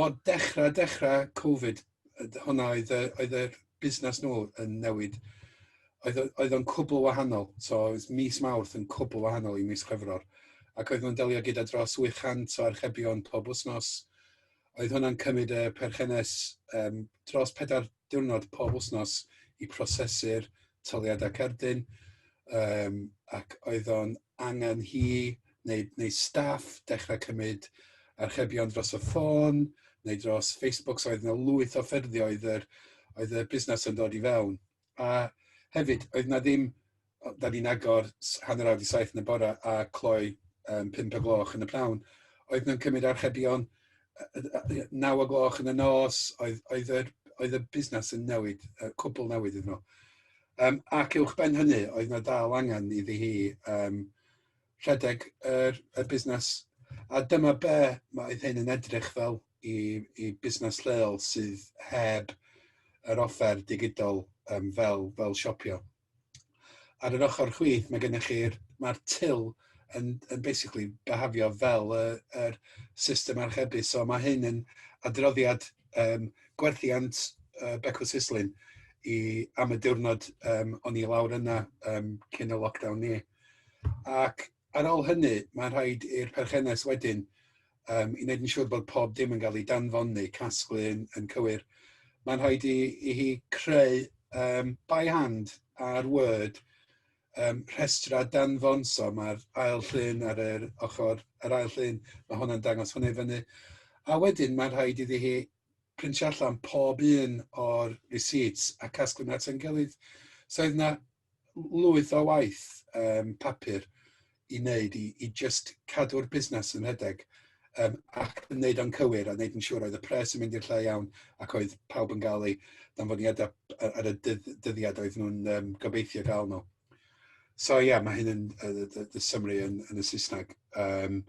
o dechra dechra covid yy d- hwnna oedd yy oedd yr busnas nw yn newid oedd o oedd o'n cwbwl wahanol so oedd mis Mawrth yn cwbwl wahanol i mis Chwefror ac oedd nw'n delio gyda dros 800 o archebion pob wsnos oedd hwnna'n cymyd y perchennes yym dros pedair diwrnod pob wythnos i prosesu'r taliadau cerdyn yym ac oedd o'n angen hi neu neu staff dechrau cymryd archebion dros y ffôn neu dros Facebook, so oedd 'na lwyth o ffyrddioedd yr oedd y busnes yn dod i fewn a hefyd oedd 'na ddim o, da ni'n agor hanner awr i saith yn y bore a cloi um, pimp o gloch yn y prawn. Oedd nhw'n cymryd archebion naw o gloch yn y nos, oedd, oedd, yr, oedd y busnes yn newid, y cwbl newid iddyn nhw. Um, ac uwch ben hynny, oedd yna dal angen iddi hi um, rhedeg yr, y busnes. A dyma be mae hyn yn edrych fel i, i busnes lleol sydd heb yr offer digidol um, fel, fel siopio. ar yr ochr chwith mae gennych chi'r... mae'r till yn yn basically byhafio fel y yr system archebu so ma' hyn yn adroddiad yym gwerthiant yy Becw Sislin i am y diwrnod yym o'n i lawr yna yym cyn y lockdown ni ac ar ôl hynny mae'n rhaid i'r perchennes wedyn um, i wneud yn siŵr bod pob dim yn cael ei danfon neu casglu yn, yn cywir, mae'n rhaid i, i hi creu um, by hand ar Word um, rhestra danfon, so mae'r ail llun ar yr ochr, yr ail llun, mae hwnna'n dangos hwnna i fyny. A wedyn mae'n rhaid iddi hi printio allan pob un o'r receipts a casglu nhw at yn gilydd. So oedd yna lwyth o waith um, papur i wneud i, i just cadw'r busnes yn rhedeg um, ac yn wneud o'n cywir a wneud yn siŵr oedd y pres yn mynd i'r lle iawn ac oedd pawb yn gael ei ddanfoniadau ar y dyddiad oedd nhw'n um, gobeithio gael nhw. So ie, yeah, mae hyn yn, y, y, y summary yn, yn y Saesneg. Um,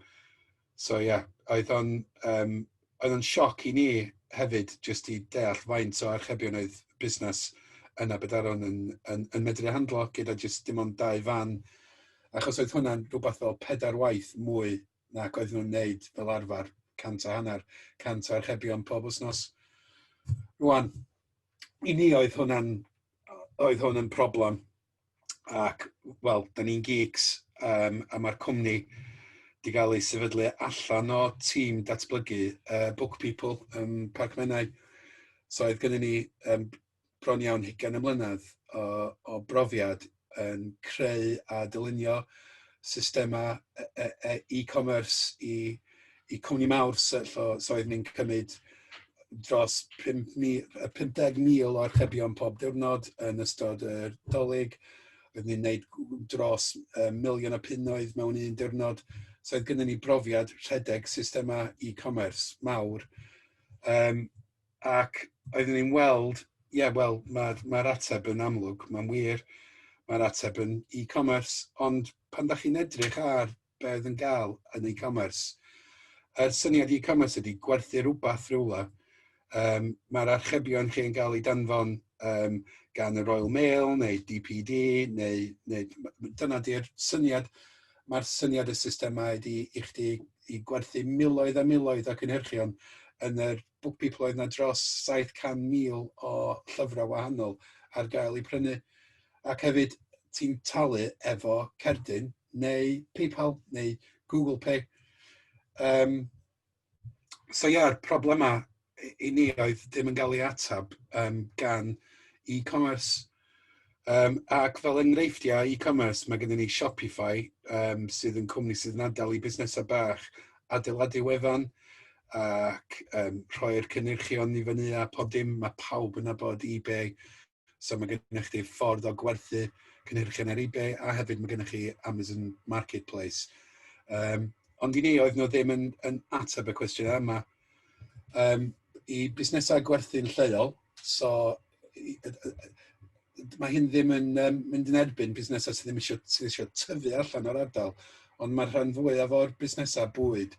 So ie, oedd o'n yym oedd o'n sioc i ni hefyd jyst i deall faint o archebion oedd busnes yn Aberaeron yn yn yn medru handlo gyda jyst dim ond dau fan, achos oedd hwnna'n rhywbeth fel pedair waith mwy nac oedden nhw'n wneud fel arfer, cant a hanner, cant o archebion pob wythnos. Rŵan, i ni oedd hwnna'n oedd hwn yn problem, ac wel, da ni'n geeks um, a mae'r cwmni wedi cael ei sefydlu allan o tîm datblygu uh, Book People ym um, Parc Menai. So oedd gennym ni um, bron iawn hugain y mlynedd o, o brofiad yn creu a dylunio systemau e-commerce e, e, e i i cwmni mawr sy so so oedd ni'n cymryd dros 50,000 o archebion pob diwrnod yn ystod y dolyg. Oedd ni'n gwneud dros uh, miliwn o punnoedd mewn un diwrnod. So oedd gennym ni brofiad rhedeg systemau e-commerce mawr. Um, ac oeddwn ni'n weld, ie, yeah, wel, mae'r mae ateb yn amlwg, mae'n wir, mae'r ateb yn e-commerce, ond pan da chi'n edrych ar be oedd yn gael yn e-commerce. Yr syniad e-commerce ydy gwerthu rhywbeth rhywle. Um, Mae'r archebion chi'n cael ei danfon um, gan y Royal Mail neu DPD neu, neu dyna di'r syniad. Mae'r syniad y systemau ydy i chdi i gwerthu miloedd a miloedd o cynhyrchion yn yr BookPeople oedd 'na dros 700,000 o llyfrau wahanol ar gael eu prynu, ac hefyd ti'n talu efo cerdyn neu PayPal neu Google Pay. Um, so ia, yeah, problemau i ni oedd ddim yn cael ei atab um, gan e-commerce. Um, ac fel enghreifftiau e-commerce, mae gennym ni Shopify, um, sydd yn cwmni sydd yn adael i busnesau bach adeiladu wefan ac um, rhoi'r cynnyrchion i fyny a pob dim. Mae pawb yn abod eBay, so mae gennych chi ffordd o gwerthu cynnyrchion ar eBay a hefyd mae gennych chi Amazon Marketplace. Um, ond i ni oedd nhw ddim yn, yn ateb y cwestiwn yma, um, i busnesau gwerthu'n lleol. So, i, y, y, mae hyn ddim yn um, mynd yn erbyn busnesau sydd ddim eisiau, sydd eisiau tyfu allan o'r ardal, ond mae'r rhan fwyaf o'r busnesau bwyd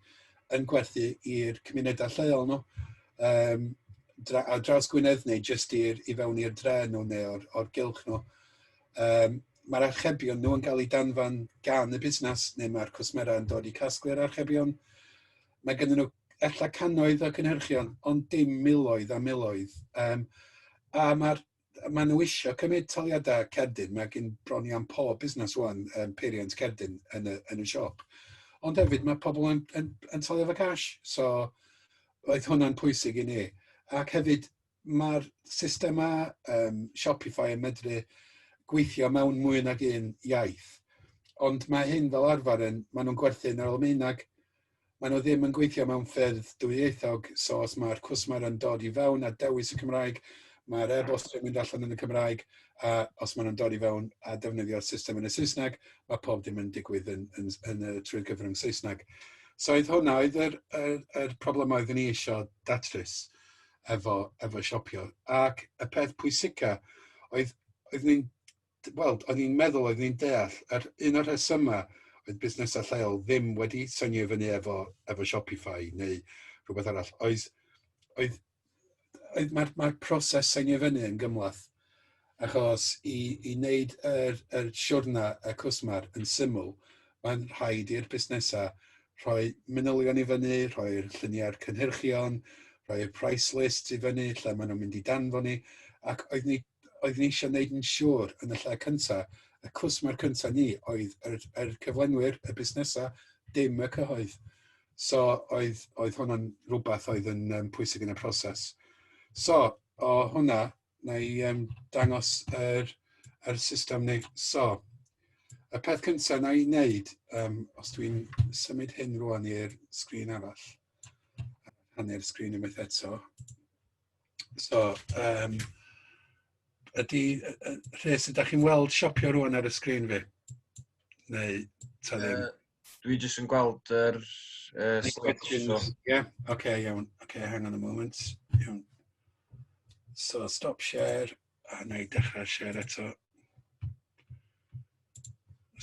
yn gwerthu i'r cymunedau lleol nhw. No? Um, dra, a draws Gwynedd neu jyst i'r, i fewn i'r dre nhw neu o'r, or gylch nhw. Um, mae'r archebion nhw yn cael eu danfan gan y busnes neu mae'r cwsmerau yn dod i casglu'r archebion. Mae gennyn nhw ella cannoedd o cynhyrchion, ond dim miloedd a miloedd. Um, a mae'r maen nhw eisiau cymryd taliadau cerdyn, mae gen bron i am pob busnes wan um, peiriant cerdyn yn y, yn y siop. Ond hefyd mae pobl yn, yn, yn talio fo cash, so oedd hwnna'n pwysig i ni. Ac hefyd, Mae'r systemau um, Shopify yn medru gweithio mewn mwy nag un iaith. Ond mae hyn fel arfer yn, maen nhw'n gwerthu'n yr Almaeneg, maen nhw ddim yn gweithio mewn ffyrdd dwyieithog, so os mae'r cwsmer yn dod i fewn a dewis y Cymraeg, mae'r e-bost yn mynd allan yn y Cymraeg, a os maen nhw'n dod i fewn a defnyddio'r system yn y Saesneg, mae pob dim yn digwydd yn, yn, yn, yn trwy'r gyfrwng Saesneg. So oedd hwnna, oedd yr, yr, yr problemau oeddwn ni eisiau datrys. efo efo siopio ac y peth pwysica oedd oedd ni'n wel o'n i'n meddwl oedd ni'n deall yr un o'r rhesyma oedd busnesau lleol ddim wedi synio i fyny efo efo Shopify neu rhywbeth arall oedd oedd oedd mae'r mae'r proses synio fyny yn gymlath Achos i i wneud yr yr siwrna y cwsmer yn syml, mae'n rhaid i'r busnesau rhoi manylion i fyny, rhoi'r lluniau'r cynhyrchion, rhoi'r price list i fyny, lle maen nhw'n mynd i danfon ni, ac oedd ni oedd ni eisiau wneud yn siŵr yn y lle cyntaf, y cwsmer cyntaf ni oedd yr yr cyflenwyr, y busnesau, dim y cyhoedd. So oedd oedd hwnna'n rhywbeth oedd yn yym pwysig yn y proses. So o hwnna Wna i yym dangos yr yr system neu... So y peth cynta wna i wneud yym os dwi'n symud hyn rŵan i'r sgrin arall a rhannu'r sgrin unwaith eto. So yym ydy yy yy Rhys ydach chi'n weld siopio rŵan ar y sgrin fi? Neu ta ddim? Dwi jyst yn gweld yr uh, slides. So. Yeah, okay, iawn. Okay, hang on a moment. Iawn. So, stop share, a na i dechrau share eto.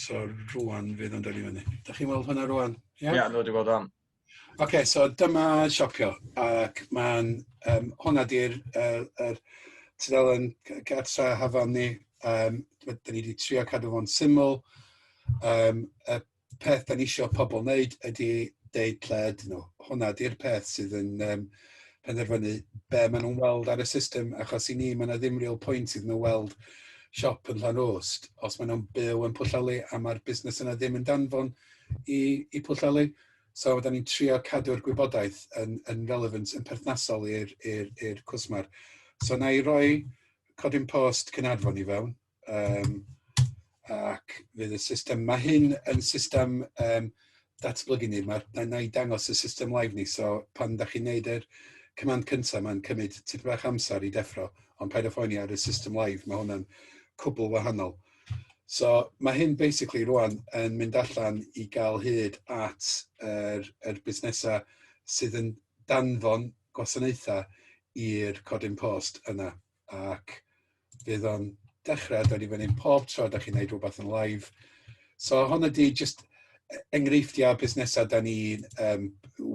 So, rwan fydd o'n dod i fyny. Da chi'n weld hwnna rwan? Ie, yeah? yeah, nhw wedi bod am. Oce so dyma siopio ac ma'n yym hwnna 'di'r yy yr tudalen g- garddio hafan ni yym d- 'dan ni 'di trio cadw fo'n syml yym y peth 'dan ni isio pobol wneud ydi deud lle ydyn nhw, hwnna 'di'r peth sydd yn yym penderfynu be' ma' nhw'n weld ar y system achos i ni ma' 'na ddim real point iddyn nhw weld siop yn Llanrwst os ma' nhw'n byw yn Pwllheli a ma'r busnes yna ddim yn danfon i i Pwllheli. So fydda ni'n trio cadw'r gwybodaeth yn, yn relevant, yn perthnasol i'r, i'r, i'r cwrs ma'r. So na i roi codyn post cynadfon i fewn, um, ac fydd y system, mae hyn yn system um, datblygu ni, mae, na, na i dangos y system live ni, so pan da chi'n neud yr command cyntaf, mae'n cymryd tipyn bach amser i deffro, ond paid â phoeni ar y system live, mae hwnna'n cwbl wahanol. So mae hyn basically rwan yn mynd allan i gael hyd at yr, yr busnesau sydd yn danfon gwasanaethau i'r codyn post yna. Ac fydd o'n dechrau dod i fyny pob tro da chi'n neud rhywbeth yn live. So hwn ydi just e- enghreifftiau o busnesau da ni'n um,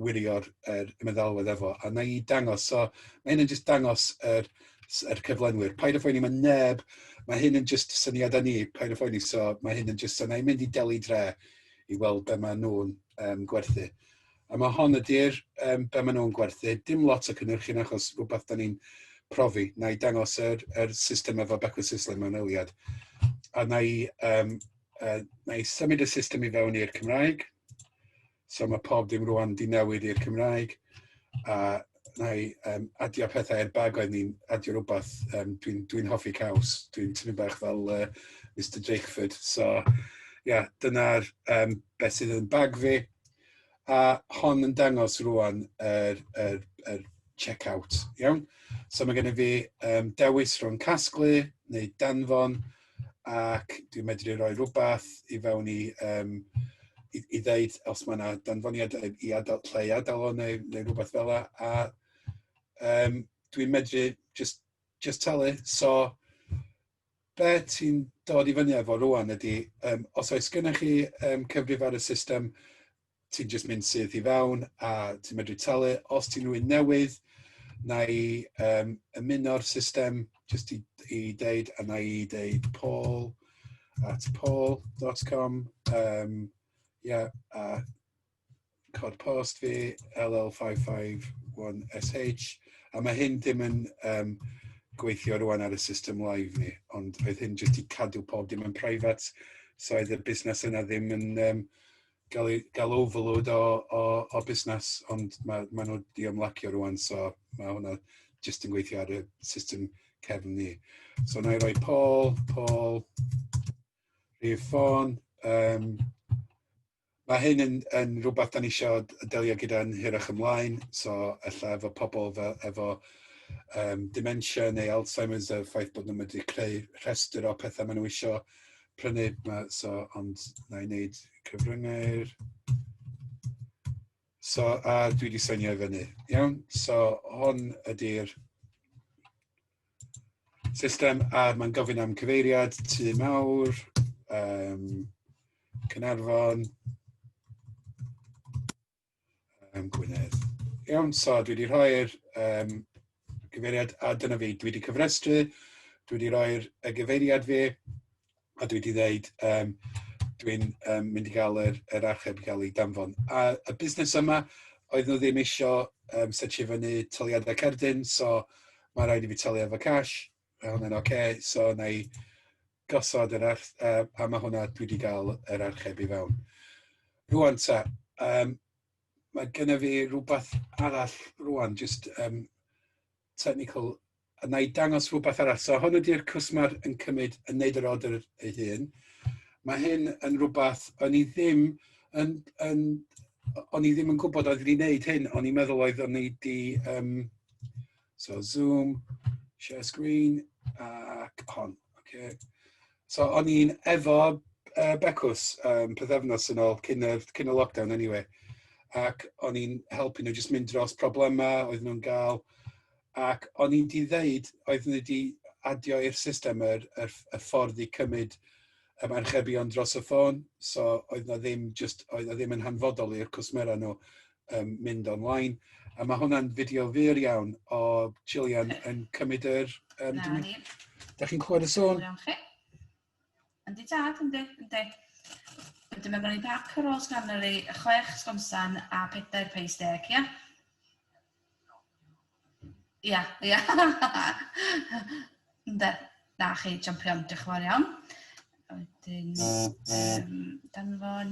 wirio'r er, meddalwedd efo, a na i dangos, so mae hyn yn just dangos yr, yr cyflenwyr. Paid o phoeni, mae neb, mae hyn yn just syniadau ni, paid o phoeni, so mae hyn yn just, so na i'n mynd i delu dre i weld be maen nhw'n um, gwerthu. A mae hon ydy'r um, be maen nhw'n gwerthu, dim lot o cynnyrchyn achos rhywbeth da ni'n profi, na i dangos yr, yr system efo Beckwith Sisley mewn eiliad. A na i um, Uh, na i symud y system i fewn i'r Cymraeg. So mae pob dim rwan di newid i'r Cymraeg. A na i um, adio pethau i'r bag oedd ni'n adio rhywbeth. Um, Dwi'n dwi, hoffi caws. Dwi'n tynnu bach fel uh, Mr Drakeford. So, ia, yeah, dyna'r um, beth sydd yn bag fi. A hon yn dangos rwan yr, er, er, er check-out. Iawn? So mae gennym fi um, dewis rhwng casglu neu danfon ac dwi'n medru rhoi rhywbeth i fewn i um, i, i ddeud os mae yna danfoniad i adal, lle i adal o neu, neu rhywbeth fel yna. A um, dwi'n medru just, just talu. So, be ti'n dod i fyny efo rwan ydy, um, os oes gennych chi um, cyfrif ar y system, ti'n just mynd syth i fewn a ti'n medru talu. Os ti'n rwy'n newydd, na i um, ymuno'r system just i, i deud, a na i deud paul at paul.com. Um, yeah, a cod post fi, LL551SH. A mae hyn dim yn um, gweithio rwan ar y system live ni, ond roedd hyn jyst i cadw pob dim yn private, so oedd y busnes yna ddim yn um, gael ei... gael overload o o o busnes, ond ma' maen nhw 'di ymlacio rŵan, so ma' hwnna jyst yn gweithio ar y system cefn ni. So wna i roi Paul, Paul, rhif ffôn, yym ma' hyn yn yn rwbath 'dan ni isio d- delio gyda'n hirach ymlaen, so ella efo pobl fe- efo yym dementia neu Alzheimers, y ffaith bod nhw'n medru creu rhestr o petha ma' nhw isio prynu, ma'... so ond wna i wneud cyfryngau'r... So a dwi wedi seinio i fyny. Iawn, so hwn ydy'r system a mae'n gofyn am cyfeiriad tu mawr, um, Cynarfon. um, Gwynedd. Iawn, so dwi wedi rhoi'r um, gyfeiriad, a dyna fi, dwi wedi cyfrestru, dwi wedi rhoi'r gyfeiriad fi, a dwi wedi dweud, um, dwi'n um, mynd i gael yr, yr archeb i gael ei danfon. A y busnes yma, oedd nhw ddim eisiau um, setio fyny tyliadau cerdyn, so mae rhaid i fi talu efo cash, mae hwnna'n oce, okay, so na i gosod yr arch- yy a ma' hwnna dwi 'di ga'l yr archebu fewn. Rŵan ta yym ma' gynna fi rwbath arall rŵan jyst yym technical a wna i dangos rwbath arall. So hwn ydy'r cwsmer yn cymryd yn wneud yr order ei hun. Mae hyn yn rwbath o'n i ddim yn yn o'n i ddim yn gwybod oedd wedi wneud hyn, o'n i'n meddwl oedd o'n i 'di yym So Zoom, share screen, ac hon. Okay. So o'n i'n efo uh, Becws um, pethefnos yn ôl, cyn y, cyn y lockdown anyway. Ac o'n i'n helpu nhw jyst mynd dros problemau oedd nhw'n gael. Ac o'n i'n di ddeud, oedd nhw wedi adio i'r system yr, yr, y ffordd i cymryd um, archebion dros y ffôn. So oedd na ddim, just, oedd na ddim yn hanfodol i'r cwsmera nhw um, mynd online. A mae hwnna'n fideo fyr iawn o Gillian yn cymryd yr... Um, Na ni. Da chi'n clywed y sôn? Iawn chi. Yndi tad, yndi, yndi. Wedyn mae gen i pac ar ôl sgannery, chwech sgonsan a pedair peis deg, ia? Ia, ia. Yndi. Na chi, champion, diolch yn fawr iawn. Wedyn, um, danfon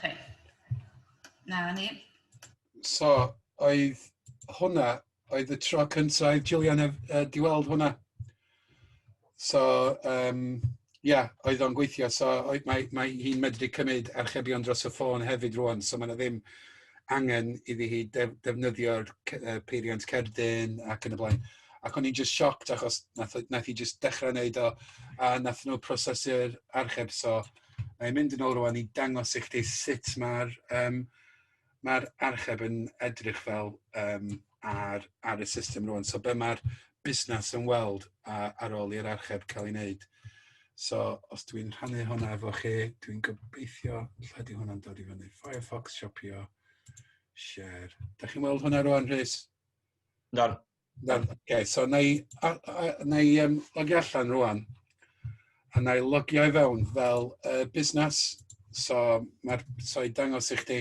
Chi. Na, ni. So, oedd hwnna, oedd y tro cyntaf Julian a, a di weld hwnna. So, um, yeah, oedd o'n gweithio. So, oedd, mae, mae hi'n medru cymryd archebion dros y ffôn hefyd rwan. So, mae yna ddim angen iddi hi def, defnyddio'r uh, peiriant cerdyn ac yn y blaen. Ac o'n i'n just shocked achos nath, nath i just dechrau wneud o a nath nhw prosesu'r archeb. So, Mae'n mynd yn ôl rwan i dangos i chdi sut mae'r um, mae'r archeb yn edrych fel um, ar, ar y system rwan. So be mae'r busnes yn weld a, ar ôl i'r archeb cael ei wneud. So os dwi'n rhannu hwnna efo chi, dwi'n gobeithio lle di hwnna'n dod i fyny. Firefox, siopio, share. Da chi'n weld hwnna rwan, Rhys? Na. Ok, so wna i a- a- wna i yym logio allan rŵan, a wna i logio i fewn fel yy busnes. So ma'r... so i dangos i chdi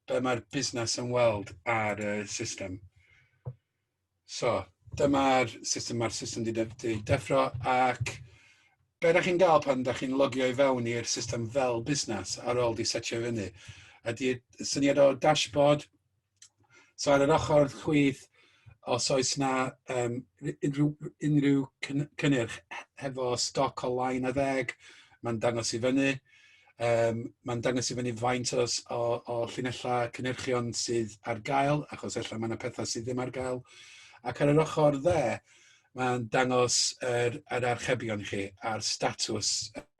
be' ma'r busnes yn weld ar y system. So dyma'r system, ma'r system 'di de- 'di deffro ac be' dach chi'n ga'l pan dach chi'n logio i fewn i'r system fel busnes ar ôl 'di setio i fyny ydi syniad o dashboard So ar yr ochr chwith, os oes yna um, unrhyw, unrhyw cynnyrch hefo stoc o lai na ddeg, mae'n dangos i fyny. Um, mae'n dangos i fyny faint o, o, o llinellau cynnyrchion sydd ar gael, achos efallai mae yna pethau sydd ddim ar gael. Ac ar yr ochr dde, mae'n dangos yr, yr archebion chi a'r statws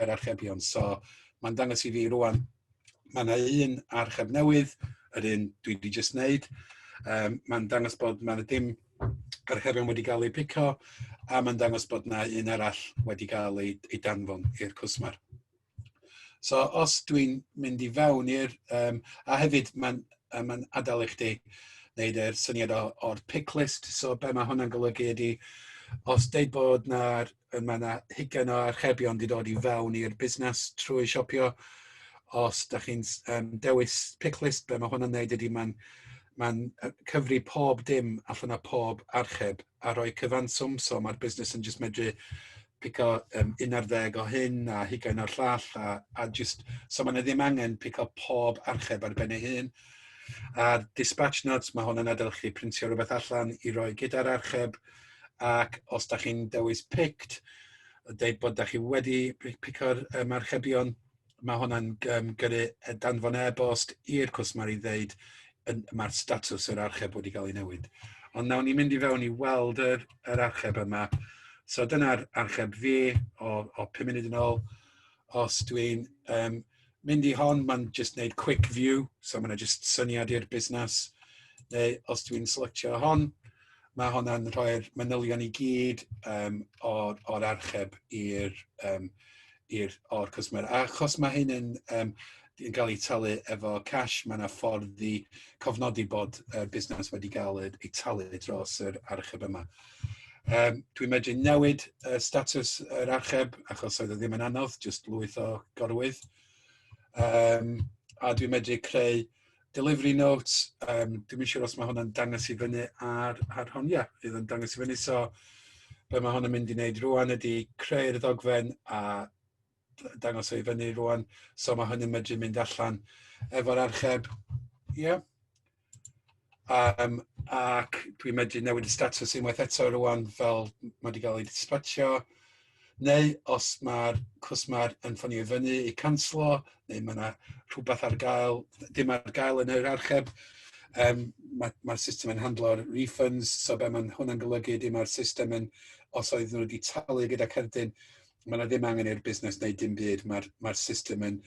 yr archebion. So mae'n dangos i fi rwan Mae yna un archeb newydd, yr un dwi wedi jyst wneud. Um, mae'n dangos bod mae yna dim archebion wedi cael eu pico, a mae'n dangos bod yna un arall wedi cael ei, ei danfon i'r cwsmer. So os dwi'n mynd i fewn i'r... Um, a hefyd mae'n ma adael i chdi wneud yr syniad o'r pick list. So be mae hwnna'n golygu ydy, os deud bod yna mae yna hugain o archebion wedi dod i fewn i'r busnes trwy siopio. Os da chi'n um, dewis picklist, be mae hwn yn neud ydy mae'n mae'n cyfri pob dim allan o pob archeb a rhoi cyfanswm, so mae'r busnes yn just medru pico um, un ar ddeg o hyn a hugain o'r llall a, a just, so mae yna ddim angen pico pob archeb ar ben ei hun. A'r dispatch notes, mae hwn yn adael chi printio rhywbeth allan i roi gyda'r archeb, ac os da chi'n dewis picked, dweud bod da chi wedi pico'r um, archebion, mae hwnna'n um, gyrru e, danfon e-bost i'r cwsmer i ddeud mae'r statws yr archeb wedi cael ei newid. Ond nawn ni mynd i fewn i weld yr, yr archeb yma. So dyna'r archeb fi o, o 5 munud yn ôl. Os dwi'n um, mynd i hon, mae'n just wneud quick view, so mae'n just syniad i'r busnes. Neu os dwi'n selectio hon, mae hwnna'n rhoi'r manylion i gyd um, o'r, or archeb i'r um, i'r o'r cwsmer. A achos mae hyn yn, um, yn cael ei talu efo cash, mae yna ffordd i cofnodi bod y uh, busnes wedi cael ei talu dros yr archeb yma. Yym dwi'n medru newid y statws yr archeb achos oedd e ddim yn anodd, jyst lwyth o gorwydd. Yym a dwi'n medru creu delivery notes, um, dwi'n siŵr os mae hwnna'n dangos i fyny ar, ar hon, ia, fydd yn dangos i fyny. So be mae hwn yn mynd i wneud rwan ydy creu'r ddogfen a dangos ei fyny rwan. So mae hwn yn medru mynd allan efo'r archeb. Ie. Yeah. Um, ac dwi'n medru newid y status unwaith eto rwan fel mae wedi cael ei dispatio. Neu os mae'r cwsmer yn ffonio i fyny i canslo, neu mae yna rhywbeth ar gael, dim ar gael yn yr archeb, um, mae'r ma, ma system yn handlo'r refunds, so be mae hwnna'n golygu ydy mae'r system yn, os oedd nhw wedi talu gyda cerdyn, mae yna ddim angen i'r busnes wneud dim byd, mae'r mae system yn,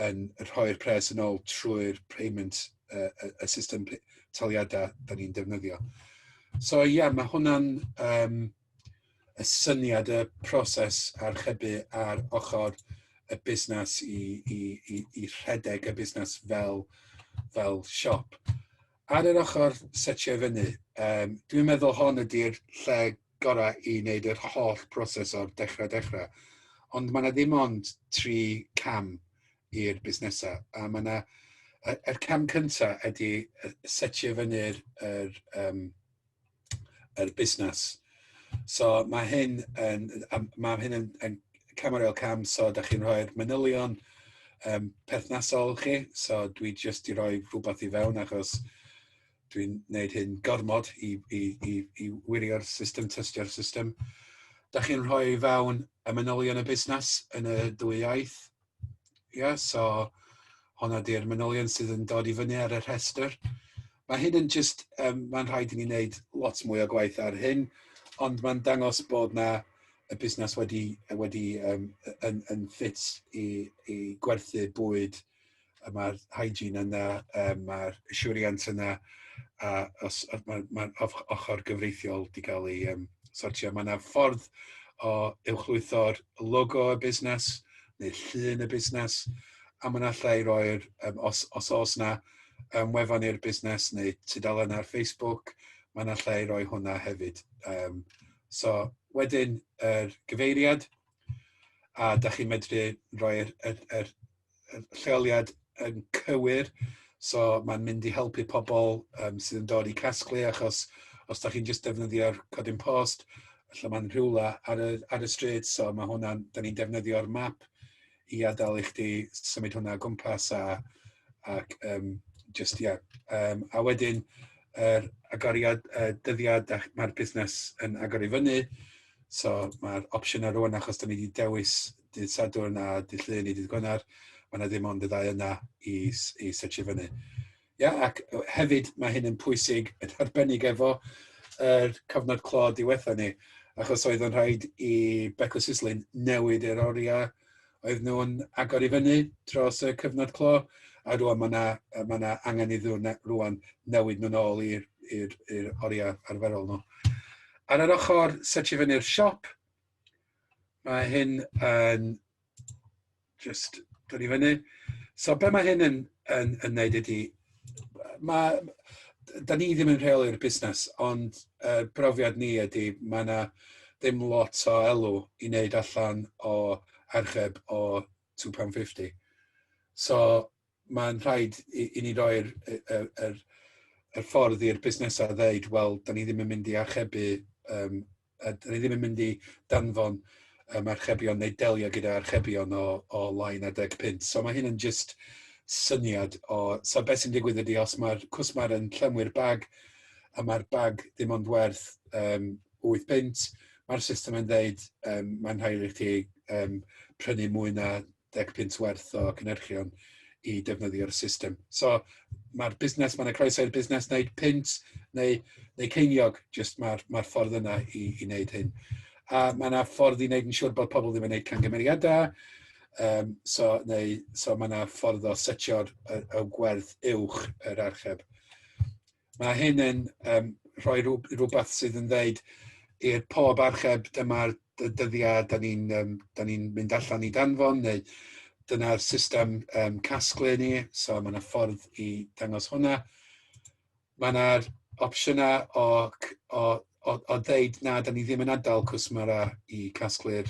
yn rhoi'r pres yn ôl trwy'r payment, y, y, y system taliadau da ni'n defnyddio. So ie, yeah, mae hwnna'n um, y syniad, y proses archebu ar ochr y busnes i, i, i, i rhedeg y busnes fel, fel siop. Ar yr ochr setio fyny, um, dwi'n meddwl hon ydy'r lle gorau i wneud yr holl proses o'r dechrau dechrau. Ond mae yna ddim ond tri cam i'r busnesau. A mae yna... Yr er cam cyntaf ydy setio fyny'r er, um, er busnes. So mae hyn yn, mae hyn yn, yn cam ar ôl cam, so da chi'n rhoi'r manylion um, perthnasol chi, so dwi jyst i roi rhywbeth i fewn achos dwi'n gwneud hyn gormod i, i, i, i wirio'r system, tystio'r system. Da chi'n rhoi fewn y manylion y busnes yn y dwy iaith. Ie, yeah, so honna di'r manylion sydd yn dod i fyny ar y rhestr. Mae hyn yn just, um, mae'n rhaid i ni wneud lot mwy o gwaith ar hyn, ond mae'n dangos bod na y busnes wedi, wedi um, yn, yn ffit i, i gwerthu bwyd y mae'r hygiene yna, um, mae'r assurance yna, a os, mae'r mae ochr gyfreithiol wedi cael ei um, sortio. Mae yna ffordd o uwchlwytho'r logo y busnes neu llun y busnes, a mae'n allai i roi'r, um, os, os oes yna um, wefan i'r busnes neu tudalen ar Facebook, mae'n allai i roi hwnna hefyd. Um, so, wedyn, yr er gyfeiriad, a da chi'n medru rhoi'r er, er, y lleoliad yn cywir, so mae'n mynd i helpu pobl um, sydd yn dod i casglu, achos os da chi'n just defnyddio'r codyn post, lle mae'n rhywle ar y, ar y stryd, so mae hwnna'n, da ni'n defnyddio'r map i adael i chdi symud hwnna gwmpas a, ac um, just, yeah. Um, a wedyn, yr agoriad, uh, dyddiad, mae'r busnes yn agor i fyny, So mae'r opsiwn ar rwan achos da ni wedi dewis dydd Sadwrn a dydd Llun i dydd Gwener, mae yna ddim ond y ddau yna i, i setio fyny. Ia, ac hefyd mae hyn yn pwysig yn arbennig efo yr cyfnod clo diwetha ni, achos oedd yn rhaid i Becws Islyn newid yr oriau oedd nhw'n agor i fyny dros y cyfnod clo, a rwan mae yna ma na angen iddyn nhw rwan newid nhw'n ôl i'r oriau arferol nhw. Ar yr ochr setio fyny'r siop, Mae hyn yn just dod i fyny. So be mae hyn yn, yn, yn neud ydy, mae, da ni ddim yn rheoli'r busnes, ond uh, brofiad ni ydy, mae yna ddim lot o elw i wneud allan o archeb o £2.50. So mae'n rhaid i, i ni roi'r y, y, y, y ffordd i'r busnesau ddeud, wel, da ni ddim yn mynd i archebu, um, a da ni ddim yn mynd i danfon um, archebion neu delio gyda archebion o, o lai na deg pint. So mae hyn yn just syniad o... So beth sy'n digwydd ydy, os mae'r cwsmar yn llenwi'r bag, a mae'r bag dim ond werth um, 8 pint, mae'r system yn dweud, um, mae'n rhaid i chi um, prynu mwy na deg punt werth o cynhyrchion i defnyddio'r system. So mae'r busnes, mae'n y croeso i'r busnes wneud punt neu, neu ceiniog, jyst mae'r mae ffordd yna i, i wneud hyn. A mae yna ffordd i wneud yn siŵr bod pobl ddim yn gwneud cangymeriadau, um, so, neu, so mae yna ffordd o setio'r y, y gwerth uwch yr archeb. Mae hyn yn um, rhoi rhywbeth sydd yn dweud i'r pob archeb dyma'r dyddiau da ni'n um, ni mynd allan i danfon neu dyna'r system um, casglu ni, so mae yna ffordd i dangos hwnna. Mae yna opsiynau o, o o, o ddeud na, da ni ddim yn adael cwsmera i casglu'r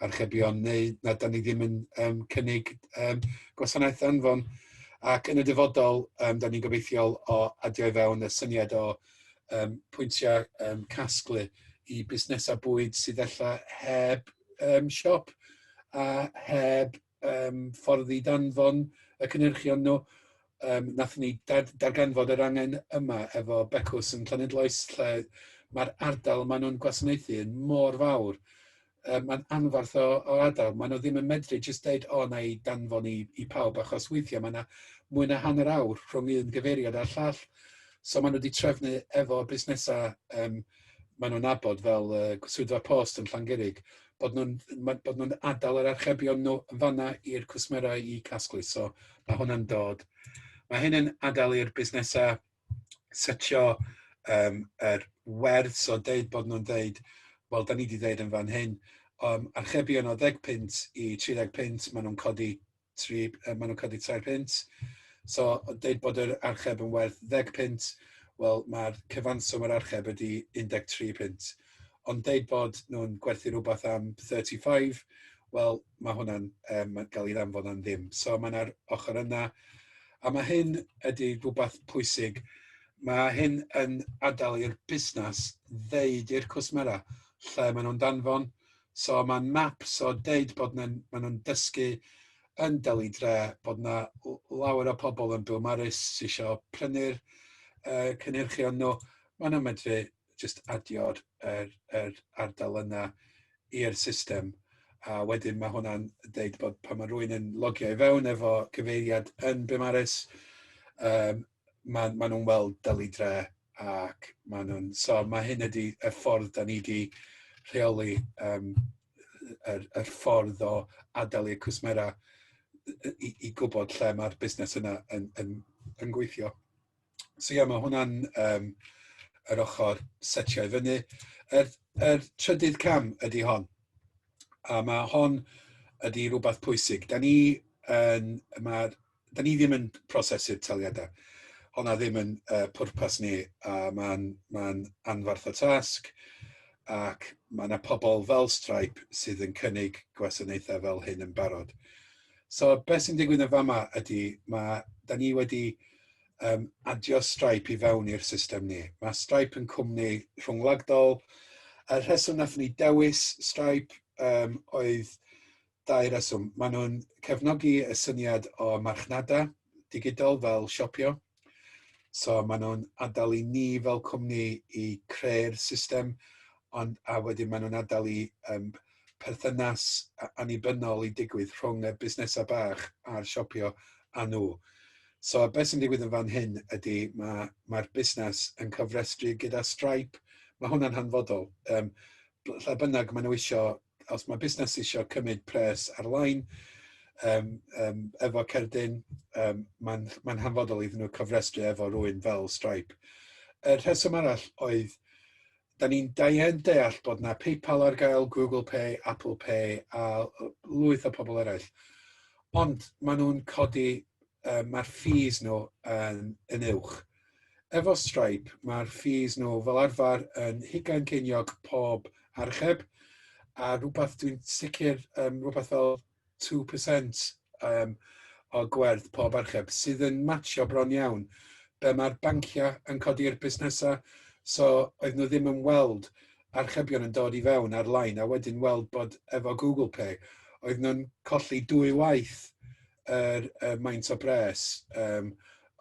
archebion neu na, da ni ddim yn um, cynnig um, gwasanaeth anfon. Ac yn y dyfodol, um, da ni'n gobeithiol o adio i fewn y syniad o um, pwyntiau um, casglu i busnesau bwyd sydd efallai heb um, siop a heb um, ffordd i danfon y cynhyrchion nhw. Um, nath ni dad, darganfod yr angen yma efo Becws yn Llanidloes lle mae'r ardal maen nhw'n gwasanaethu yn mor fawr. Um, mae'n anfarth o, o adael. Maen nhw ddim yn medru jyst deud, o, na i danfon i, i pawb, achos weithiau mae yna mwy na hanner awr rhwng un gyfeiriad a'r llall. So maen nhw wedi trefnu efo busnesau um, maen nhw'n nabod fel yy swyddfa post yn Llangurig, bod nhw'n ma- bod nhw'n adal yr archebion nhw yn fan'na i'r cwsmerau i casglu. So mae hwnna'n dod. Mae hyn yn adal i'r busnesau setio um, yr werth, so deud bod nhw'n deud, wel, da ni wedi deud yn fan hyn, um, archebion o 10 pint i 30 pint, maen nhw'n codi tri, uh, maen nhw'n codi tair pint. So, dweud bod yr archeb yn werth ddeg pint, wel, mae'r cyfanswm yr archeb ydy 13 pint. Ond dweud bod nhw'n gwerthu rhywbeth am 35, wel, mae hwnna'n um, gael ei ddanfod yn ddim. So, mae yna'r ochr yna. A mae hyn ydy rhywbeth pwysig. Mae hyn yn adael i'r busnes ddeud i'r cwsmera lle maen nhw'n danfon, So mae'n map, so deud bod nhw'n ma nhw dysgu yn Deli Dre, bod yna lawer o pobl yn Bill Morris sy'n eisiau prynu'r uh, cynhyrchion nhw, maen nhw'n medru just adio'r er, er ardal yna i'r system. A wedyn mae hwnna'n deud bod pan mae rhywun yn logio i fewn efo cyfeiriad yn Bimaris, um, ma' ma' nhw'n weld dylidre ac ma' nhw'n so ma' hyn ydi y ffordd 'dan ni 'di rheoli yym yy yr y ffordd o adael i'r cwsmera yy i i gwbod lle ma'r busnes yna yn yn yn gweithio. So ie ma' hwnna'n yym yr ochor setio i fyny. Yr yr trydydd cam ydi hon a ma' hon ydi rwbath pwysig. 'Dan ni yn ma'r da ni ddim yn prosesu'r taliadau. Hona ddim yn uh, pwrpas ni, a mae'n ma anfarth o tasg, ac mae yna pobl fel Stripe sydd yn cynnig gwasanaethau fel hyn yn barod. So, beth sy'n digwydd yn fama ydy, mae, da ni wedi um, adio Stripe i fewn i'r system ni. Mae Stripe yn cwmni rhwngwladol. Y rheswm nath ni dewis Stripe um, oedd Dau reswm. Maen nhw'n cefnogi y syniad o marchnada digidol fel siopio. So maen nhw'n adael i ni fel cwmni i creu'r system, ond a wedyn maen nhw'n adael i um, perthynas annibynnol i digwydd rhwng y busnesau bach a'r siopio a nhw. So beth sy'n digwydd yn fan hyn ydy mae'r ma, ma busnes yn cyfrestru gyda Stripe. Mae hwnna'n hanfodol. Um, lle bynnag maen nhw eisiau os mae busnes eisiau cymryd pres ar-lein um, um, efo cerdyn, um, mae'n ma hanfodol iddyn nhw cofrestru efo rhywun fel Stripe. Y rheswm arall oedd, da ni'n daen deall bod na PayPal ar gael, Google Pay, Apple Pay a lwyth o pobl eraill. Ond maen nhw'n codi, um, mae'r ffis nhw yn, yn uwch. Efo Stripe, mae'r fees nhw fel arfer yn hugain ceiniog pob archeb, a rhywbeth dwi'n sicr, um, rhywbeth fel 2% um, o gwerth pob archeb, sydd yn matio bron iawn be mae'r banciau yn codi'r busnesau, so oedd nhw ddim yn weld archebion yn dod i fewn ar-lein, a wedyn weld bod efo Google Pay, oedd nhw'n colli dwy waith yr y maint o bres yym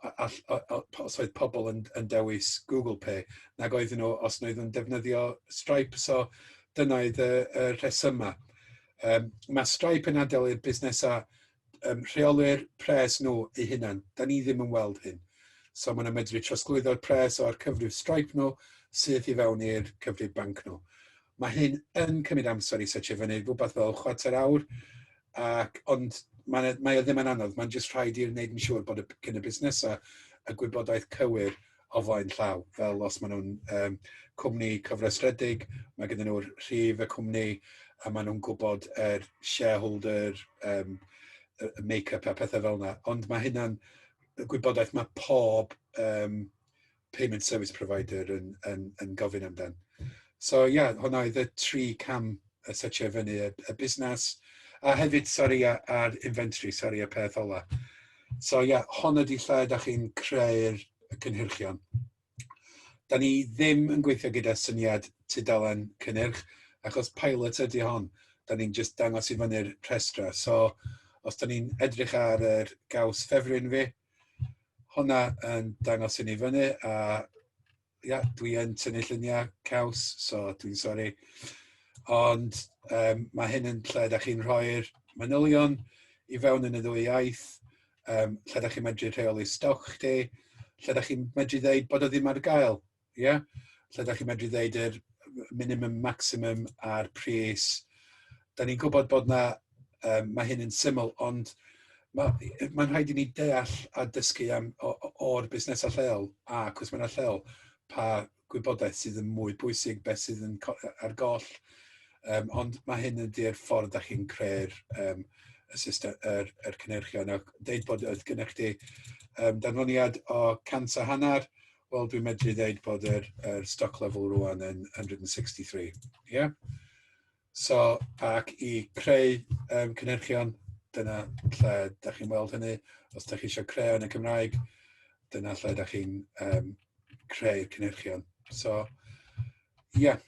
a- all- o- o- po- os oedd pobl yn yn dewis Google Pay nag oedden nhw os wnaethon nhw'n defnyddio Stripe. So dyna oedd y y rhesymau. Yym ma' Stripe yn adael i'r busnesau yym rheoli'r pres nhw eu hunain. 'Dan ni ddim yn weld hyn. So ma' nhw'n medru trosglwyddo'r pres o'r cyfrif Stripe nhw syth i fewn i'r cyfrif banc nhw. Ma' hyn yn cymryd amser i setio fyny, rwbath fel chwarter awr. ac ond mae'n e- mae o ddim yn anodd, mae'n jyst rhaid i'r wneud yn siŵr bod y b- gyn y busnesau y gwybodaeth cywir o flaen llaw, fel os maen nhw'n um, cwmni cyfrestredig, mae gyda nhw'r rhif y cwmni a maen nhw'n gwybod yr shareholder um, make-up a pethau fel yna. Ond mae hynna'n gwybodaeth mae pob um, payment service provider yn, yn, yn gofyn amdan. So ie, yeah, hwnna oedd y tri cam y setio fyny y, y busnes, a hefyd, sori, a'r inventory, sori, y peth ola. So ie, yeah, hon ydi lle da chi'n creu'r cynhyrchion. Da ni ddim yn gweithio gyda syniad tudalen cynnyrch, achos pilot ydi hon. Da ni'n just dangos i fyny'r rhestra. So, os da ni'n edrych ar yr gaws ffefryn fi, hwnna yn dangos hynny fyny a ia dwi yn tynnu llunia' caws so dwi'n sori ond yym ma' hyn yn lle 'dach chi'n rhoi'r manylion i fewn yn y ddwy iaith yym lle 'dach chi'n medru rheoli stoc chdi lle 'dach chi'n medru ddeud bod o ddim ar gael. Ie? Lle da chi'n medru ddeud yr minimum, maximum a'r pris. Da ni'n gwybod bod na, um, mae hyn yn syml, ond mae'n ma rhaid i ni deall a dysgu am o'r busnesau lleol a cwsmennau lleol pa gwybodaeth sydd yn mwy bwysig, beth sydd yn ar goll, um, ond mae hyn yn di'r ffordd da chi'n creu'r um, y system, yr, yr cynnyrchion. Ac deud bod oedd gennych chi um, danfoniad o cant a hanner, Wel, dwi'n medru ddeud bod yr, yr stock level rwan yn 163. Yeah? So, ac i creu um, cynhyrchion, dyna lle da chi'n weld hynny. Os da chi eisiau creu yn y Cymraeg, dyna lle da chi'n um, creu cynhyrchion. So, ie. Yeah.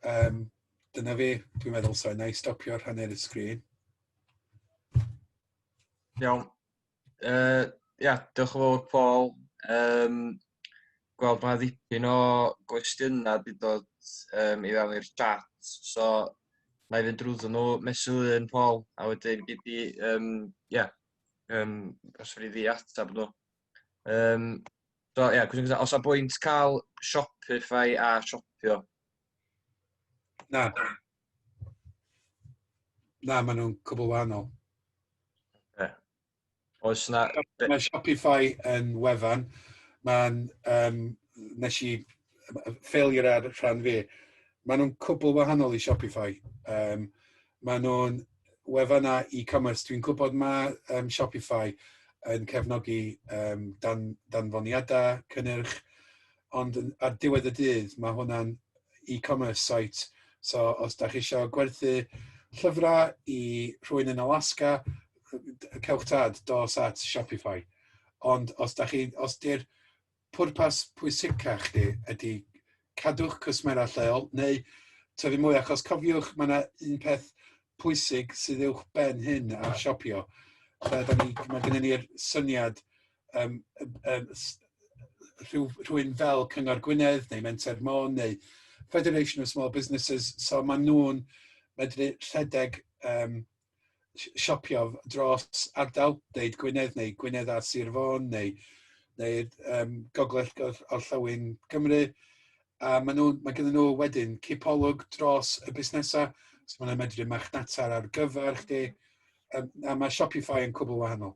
Um, dyna fi, dwi'n meddwl, so na i stopio'r hanner y sgrin. Iawn. Yy ia, diolch yn fawr Paul. Yym gweld mae ddipyn o gwestiynau wedi dod um, i fewn i'r chat, so na i fynd drwyddo nhw mesul un Paul, a wedyn gyd i, um, ia, um, os fyddi di atab nhw. Um, so ia, cwestiwn gyda, os a bwynt cael Shopify a Shopio? Na. Na, maen nhw'n cwbl wahanol. Okay. Oes na... Mae Shopify yn wefan. Mae'n... Um, nes i... Failure ar rhan fi. Maen nhw'n cwbl wahanol i Shopify. Um, maen nhw'n wefan a e-commerce. Dwi'n gwybod mae um, Shopify yn cefnogi um, dan, danfoniadau, cynnyrch, ond yn... ar diwedd y dydd mae hwnna'n e-commerce site, so os dach chi isio gwerthu llyfrau i rhywun yn Alaska, cewch tad, dos at Shopify. Ond os dach chi... os 'di'r pwrpas pwysica chdi ydi cadw'ch cwsmera lleol neu tyfu mwy achos cofiwch ma' 'na un peth pwysig sydd uwchben hyn ar siopio lle 'dan ni ma' gynnon ni'r syniad yym yym yym s- rhyw rhywun fel Cyngor Gwynedd neu Menter Môn neu Federation of Small Businesses so maen nhw'n medru rhedeg yym si- siopio dros ardal, deud Gwynedd neu Gwynedd a Sir Fôn neu neu yym Gogledd Gor- Orllewin Cymru a maen nhw ma' gynnon nhw wedyn cipolwg dros y busnesau so maen nhw'n medru marchnata ar gyfer chdi yym a ma' Shopify yn cwbl wahanol.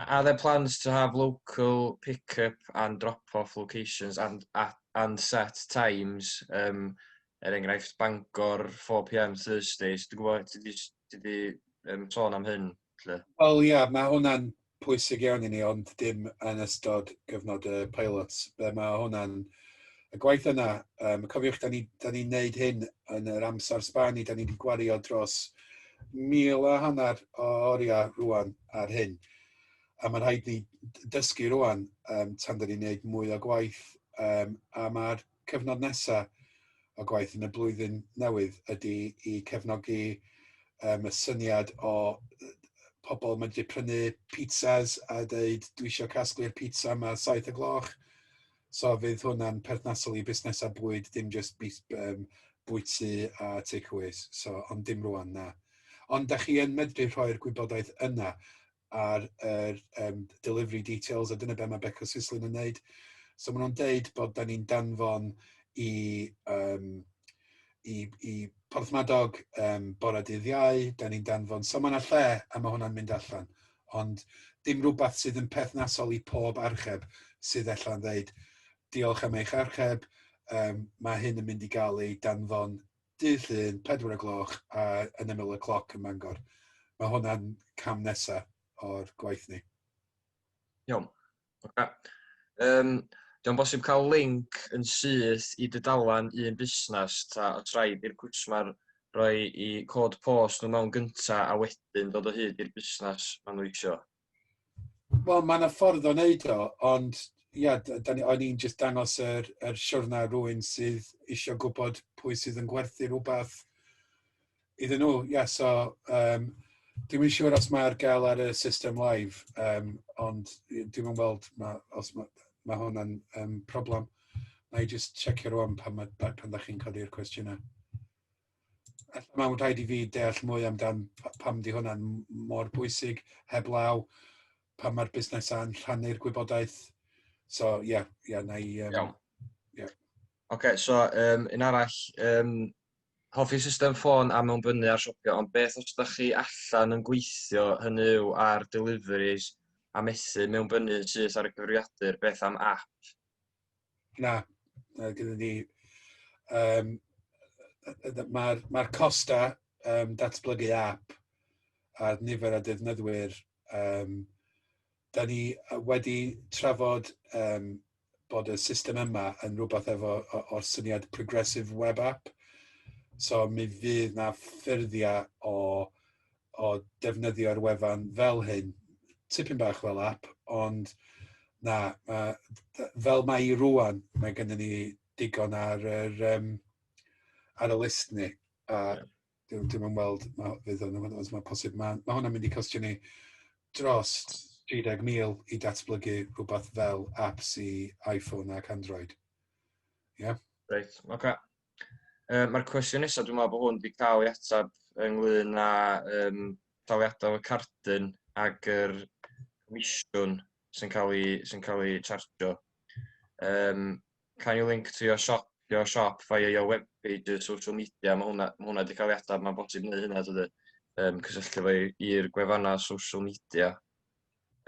Are there plans to have local pick-up and drop-off locations and at and set times um, er enghraifft Bangor 4pm Thursdays dwi'n gwybod ti 'di s- ti 'di yym sôn am hyn lle. Wel ia ma' hwnna'n pwysig iawn i ni ond dim yn ystod cyfnod y pilots be' ma' hwnna'n y gwaith yna. Um, cofiwch, da ni'n ni, ni neud hyn yn yr amser sban i, da ni wedi gwario dros mil a hanner o oriau rwan ar hyn. A mae'n rhaid ni dysgu rwan um, tan da ni'n neud mwy o gwaith um, a mae'r cyfnod nesaf o gwaith yn y blwyddyn newydd ydy i cefnogi um, y syniad o pobl mae'n wedi prynu pizzas a dweud dwi eisiau casglu'r pizza yma saith y gloch So fydd hwnna'n perthnasol i busnesau bwyd, dim jyst bus- yym, bwyty a takeaways. So, ond dim rwan, na. Ond da chi yn medru rhoi'r gwybodaeth yna ar yr um, delivery details, a dyna be mae Beco Sislin yn wneud. So maen nhw'n deud bod da ni'n danfon i, um, i, i Porthmadog um, bore dydd iau, da ni'n danfon. So mae yna lle a mae hwnna'n mynd allan. ond dim rhywbeth sydd yn perthnasol i pob archeb sydd ella'n dweud diolch am eich archeb, um, mae hyn yn mynd i gael ei danfon dydd llun, 4 o gloch, a yn ymyl y cloc yn Mangor. Mae hwnna'n cam nesaf o'r gwaith ni. Iawn. Oce. Yym, 'di o'n bosib cael linc yn syth i dudalen un busnes ta os rhaid i'r cwsmer roi i cod post nhw mewn gynta a wedyn dod o hyd i'r busnes maen nhw isio? Wel, mae yna ffordd o wneud o, ond ia, da ni, o'n i'n just dangos yr, yr siwrna rwy'n sydd eisiau gwybod pwy sydd yn gwerthu rhywbeth iddyn nhw. Ie, yeah, so um, dwi'n mynd siŵr os mae'r gael ar y system live, um, ond dwi'n mynd weld ma, os mae ma hwnna'n um, problem. Na i just checio rwan pan, ma, pan da chi'n codi'r cwestiynau. Alla mae'n rhaid i fi deall mwy amdan pam di hwnna'n mor bwysig heblaw pan mae'r busnesau'n rhannu'r gwybodaeth. So, ie, yeah, ie, yeah, na i... Um, Iawn. Yeah. Oce, okay, so um, un arall, um, Hoffi system ffôn a mewnfynnu ar siopio ond beth os dach chi allan yn gweithio hynny yw ar deliveries a methu mewnfynnu yn syth ar y cyfrifiadur beth am app? Na, na gyda ni um, mae'r ma costa um, datblygu app a'r nifer o defnyddwyr um, 'da ni wedi trafod yym bod y system yma yn rwbath efo o o'r syniad progressive web app, so mi fydd 'na ffurfiau o o defnyddio'r wefan fel hyn, tipyn bach fel app, ond na, ma' d- fel mai rŵan, mae gynnon ni digon ar yr yym ar y list ni, a Dwi'n dwi yn weld ma' fydd yn os mae'n posib, ma' ma' hwnna'n mynd i costio ni dros 30,000 i datblygu rhywbeth fel apps i iPhone ac Android. Ie? Yeah? Reit, oce. Okay. Uh, Mae'r cwestiwn nesaf, dwi'n meddwl bod hwn wedi cael ei ateb ynglyn â um, daliadau y cardyn ac yr comisiwn sy'n cael ei, sy cael ei chargio. Um, Cael link to your shop your shop via your web page or social media ma' hwnna ma' hwnna 'di ca'l ei atab ma'n bosib neu' hynna tydi? Yym cysylltu fo i i'r gwefanna social media.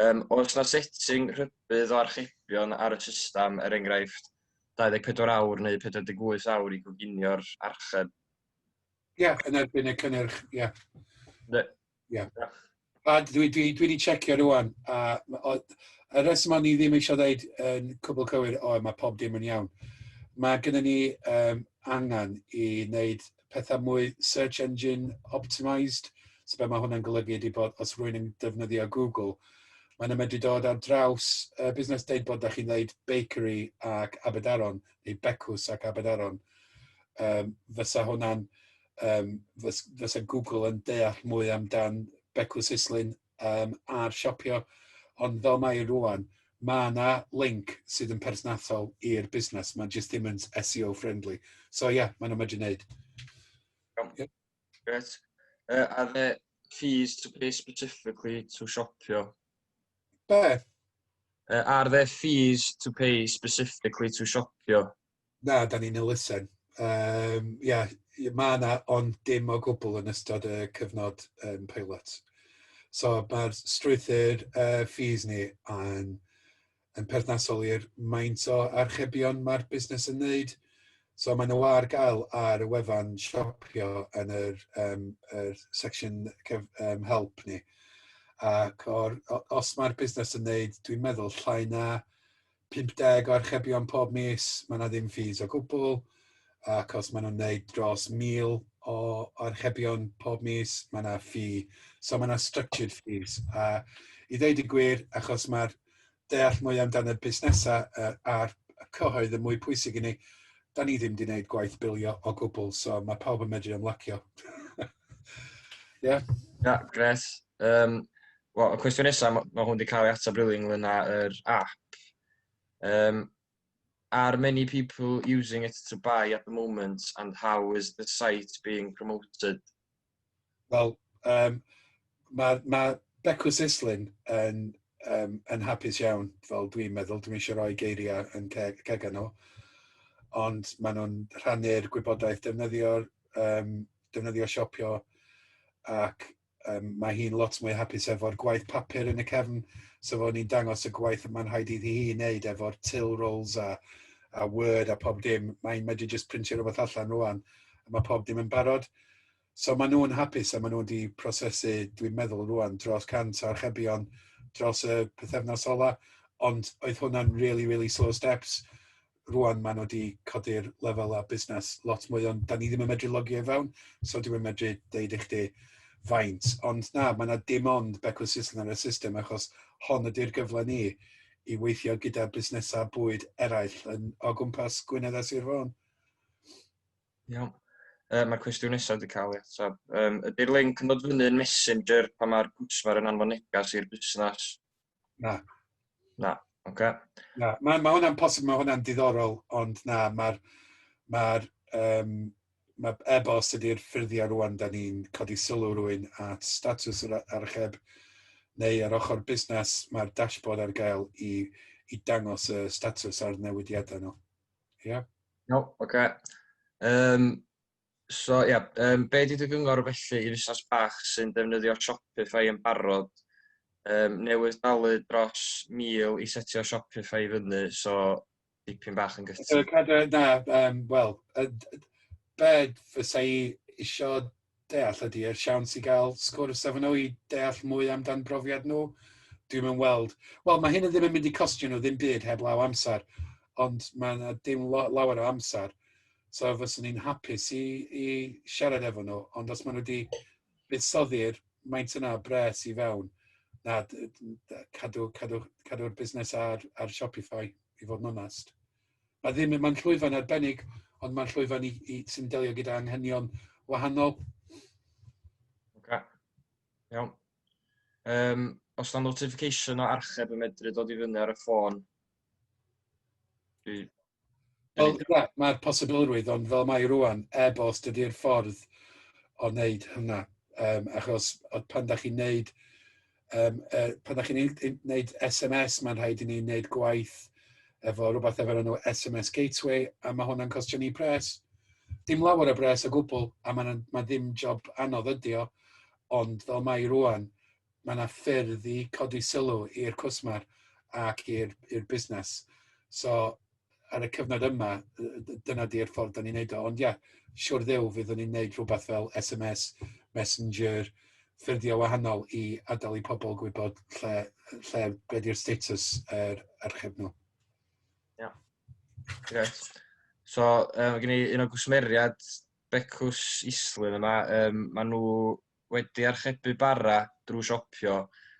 Yym oes 'na setting rhybudd o archebion ar y system er enghraifft 24 awr neu 48 awr i goginio'r archeb? Ia yn erbyn y cynnyrch ia. Ie. A dwi dwi dwi 'di checio rŵan a ma' o y rheswm o'n i ddim eisiau ddeud yn cwbl cywir o mae pob dim yn iawn. Mae gennym ni um, angen i wneud pethau mwy search engine optimised. So be mae hwnna'n golygu ydy bod os rwy'n yn defnyddio Google, mae'n medru dod ar draws uh, busnes deud bod da chi'n ddeud bakery ac Aberdaron, neu becws ac Aberdaron. Um, fysa hwnna'n yym fys- fysa Google yn deall mwy amdan becw Sislin yym a'r siopio ond fel mae rŵan ma' 'na link sydd yn perthnasol i'r busnes ma'n jyst dim yn SEO friendly so ia ma' 'na medru neud. Iawn. Ie. Grêt. Yy are there fees to pay specifically to siopio? Be'? Yy are there fees to pay specifically to siopio? Na, dan ni'n elusen. Um, ia, mae yna ond dim o gwbl yn ystod y cyfnod um, pilot. So mae'r strwythyr uh, fees ni yn, yn perthnasol i'r maint o archebion mae'r busnes yn wneud. So maen nhw ar gael ar y wefan siopio yn yr, um, yr section cef, um, help ni. Ac or, os mae'r busnes yn wneud, dwi'n meddwl, llai na 50 o archebion pob mis, mae yna ddim ffis o gwbl, ac os maen nhw'n wneud dros 1,000 o archebion pob mis, mae yna ffi. So mae yna structured fees. A i ddeud y gwir, achos mae'r deall mwy amdano busnesau uh, a'r cyhoedd yn mwy pwysig i ni, da ni ddim wedi gwneud gwaith bilio o gwbl, so mae pawb yn medru ymlacio. Ie? Yeah. yeah, gret. Um, Wel y cwestiwn nesa ma' ma' hwn 'di ca'l ei atab rili ynglŷn â yr ap. Yym are many people using it to buy at the moment and how is the site being promoted? Wel yym ma' ma' Becw Sislin yn yym yn hapus iawn fel dwi'n meddwl dwi'm isio roi geiria yn ceg cega nhw ond ma' nhw'n rhannu'r gwybodaeth defnyddio'r yym defnyddio siopio ac um, mae hi'n lot mwy hapus efo'r gwaith papur yn y cefn, so fo ni'n dangos y gwaith yma'n rhaid iddi hi wneud efo'r till rolls a, a word a pob dim, mae'n medru just printio rhywbeth allan rwan, a mae pob dim yn barod. So maen nhw'n hapus a maen nhw wedi prosesu, dwi'n meddwl rwan, dros 100 archebion dros y pethefnos ola, ond oedd hwnna'n really, really slow steps. rŵan maen nhw 'di codi'r lefelau busnes lot mwy, ond da ni ddim yn medru logio i fewn, so dwi'n medru deud i chdi faint. Ond na, mae yna dim ond becwyl Sisl ar y system, achos hon ydy'r gyfle ni i weithio gyda busnesau bwyd eraill yn, o gwmpas Gwynedd a Sir Fôn. Iawn. Uh, Mae'r cwestiwn nesaf wedi cael ei ateb. Um, ydy'r link yn dod fyny yn Messenger pan mae'r cwsmer yn anfon negas i'r busnes? Na. Na, oce. Okay. Na, mae ma hwnna'n posib, mae hwnna'n diddorol, ond na, mae'r ma um, mae e-bost ydy'r ffurfiau rwan, da ni'n codi sylw rwy'n at status yr archeb neu ar ochr busnes, mae'r dashboard ar gael i, i dangos y status a'r newidiadau nhw. Ie? Yeah? No, oce. Okay. Um, So ia, yym be' 'di dy gyngor felly i fusnes bach sy'n defnyddio Shopify yn barod? Yym newydd dalu dros 1,000 i setio Shopify i fyny, so dipyn bach yn So gutting. cadw na yym wel yy d- be fysa i isio deall ydy y siawns i gael sgwrs efo nhw i deall mwy amdan brofiad nhw. Dwi'm yn weld wel ma' hyn yn ddim yn mynd i costio nhw ddim byd heblaw amser ond ma' 'na dim lo- lawer o amser. so fyswn i'n hapus i i siarad efo nhw, ond os maen nhw 'di buddsoddi'r maint yna o bres i fewn, na, d- d- d- cadw cadw cadw'r busnes ar ar Shopify, i fod yn onest. Ma' ddim mae'n llwyfan arbennig, ond mae'n llwyfan i i sy'n delio gyda anghenion wahanol. Ocê, iawn. Yym, os na notification o archeb yn medru dod i fyny ar y ffôn, Mm. Wel, na, mae'r posibilrwydd, ond fel mae rwan, e bos dydy'r ffordd o wneud hynna. Um, achos pan da chi'n wneud, um, uh, pan da chi'n wneud SMS, mae'n rhaid i ni wneud gwaith efo rhywbeth efo'r enw SMS Gateway, a mae hwnna'n costio ni pres. Dim lawer o bres o gwbl, a mae ma ddim job anodd ydi o, ond fel mae rwan, mae 'na ffyrdd i codi sylw i'r cwsmer ac i'r i'r busnes. So ar y cyfnod yma yy d- dyna 'di'r ffordd 'dan ni'n neud o ond ie siwr Dduw fyddwn ni'n neud rhwbath fel SMS, Messenger, ffyrddie wahanol i adal i pobol gwybod lle yy lle be' 'di'r status yr archeb nw. Iawn. Grêt. So yy ma' gen i un o gwsmeriad Becws Islwyn yma yym ma' nw wedi archebu bara drwy siopio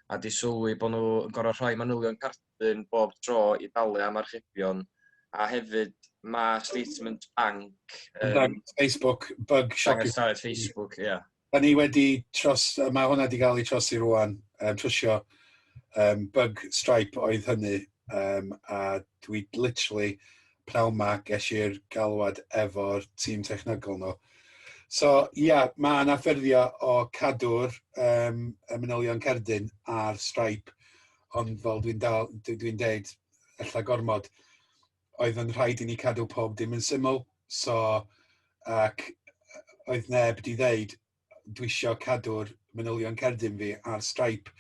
a 'di sylwi bod nhw yn gorfod rhoi manylion cardyn bob tro i dalu am archebion a hefyd ma' statement banc yn dangos Facebook bug shopio dangos daliad Facebook ia. Da ni wedi tros ma' hwnna 'di ga'l ei trosi rŵan yym trwsio yym bug Stripe oedd hynny yym a dwi literally pnawn 'ma ges i'r galwad efo'r tîm technegol nhw. So ia yeah, ma' 'na ffurfio o cadw'r um, y manylion cerdyn ar Stripe ond fel dwi'n dal dwi dwi'n deud ella gormod oedd yn rhaid i ni cadw pob dim yn syml so ac oedd neb 'di ddeud dwi isio cadw'r manylion cerdyn fi ar Stripe.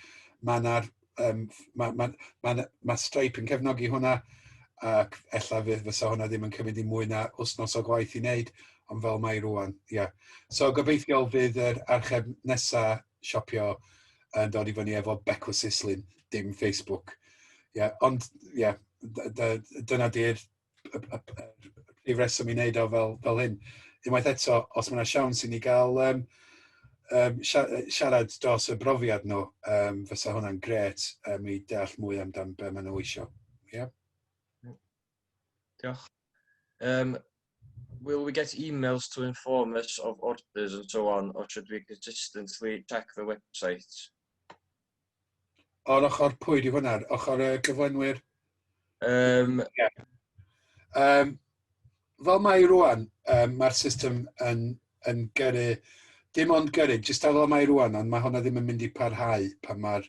Mae yna... yym mae mae mae mae Stripe yn cefnogi hwnna ac ella fydd fysa hwnna ddim yn cymryd i mwy na wythnos o gwaith i wneud, ond fel mae rŵan, ie. Yeah. So gobeithiol fydd yr archeb nesa siopio yn dod i fyny efo becw sislin, dim Facebook. Ie, yeah, ond ie, yeah, dyna di'r y, y, y, y, y reswm i wneud o fel, fel hyn. Unwaith eto, os mae yna siawns i ni gael um, um, siarad dros y brofiad nhw, um, fysa hwnna'n gret um, i deall mwy amdan be maen nhw eisiau. Yeah. Diolch. Um, will we get emails to inform us of orders and so on, or should we consistently check the website? O'r ochr pwy di hwnna? Ochr y cyflenwyr? Um, yeah. um, fel mae rwan, um, mae'r system yn, yn gyrru, dim ond gyrru, jyst fel mae rwan, ond mae hwnna ddim yn mynd i parhau pan mae'r